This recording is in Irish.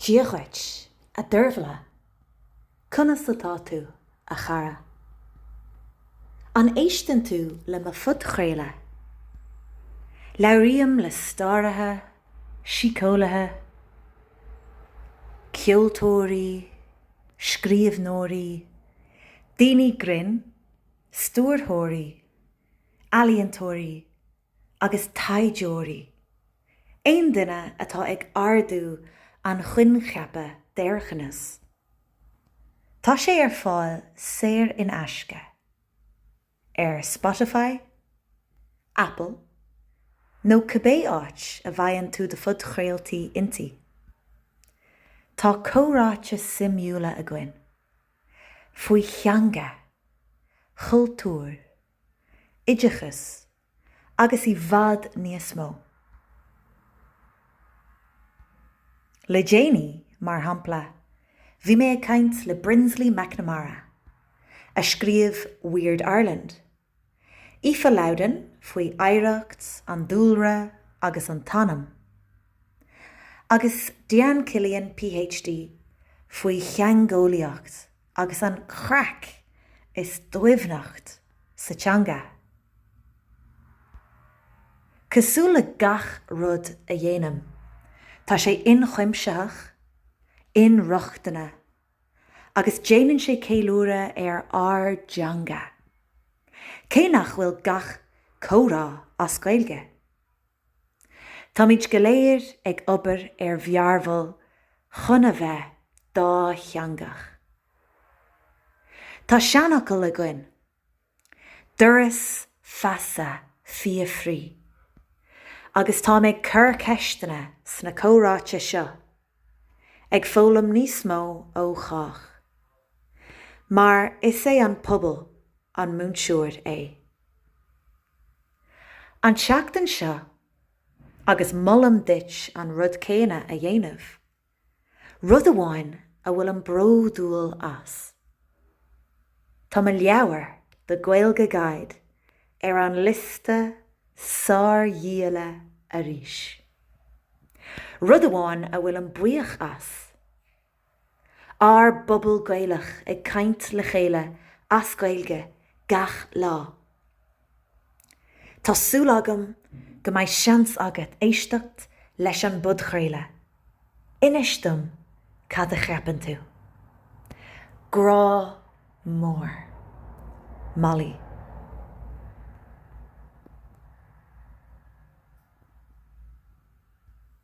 Dia dhuit, a Dervla. Conas atá tú, a chara? An éisteann tú le mo phodchraoladh? Labhraím le staraithe, síceolaithe, ceoltóirí, scríobhneoirí, daoine grinn, stiúrthóirí, ealaíontóirí agus taighdeoirí. Aon duine atá ag ardú an choincheapa d'Éireannachas, tá sé ar fáil saor in aisce ar Spotify, Apple nó cibé áit a bhfaigheann tú do phodchraoltaí inti. Tá comhráite suimiúla againn faoi theanga, chultúr oideachas agus i bhfad níos mó. Le déanaí, mar shampla, bhí mé ag caint le Brinsley McNamara, a scríobh Weird Ireland, Aoife Lowden faoi oidhreacht an dúlra agus an t-anam, agus Dian Killian PhD faoi theangeolaíocht agus an chraic is doimhneacht sa teanga. Cosúil le gach rud a dhéanaim, tá sé ionchuimsitheach, inrochtana agus déanann sé ceiliúradh ar ár dteanga, cé nach bhfuil gach comhrá as Gaeilge. Táimid go léir ag obair ar mhearbhall chun a bheith dátheangach. Tá seanfhocal againn, Doras feasa fiafraí. Agus tá mé ag cur ceisteanna sna comhráite seo, ag foghlaim níos mó ó chách. Mar is é an pobal an múinteoir é. an tseachtain seo agus molaim duit an rud céanna a dhéanamh. Rud amháin a bhfuilim bródúil as. Tá mo leabhar, The Gaeilge Guide, ar an liosta sárdhíola arís. Rud amháin a bhfuilim buíoch as. Ár bpobal Gaelach ag caint le chéile as Gaeilge gach lá. Tá súil agam go mbeidh seans agat éisteacht leis an bpodchraoladh. Inis dom cad a cheapann tú. Grá mór. Molly.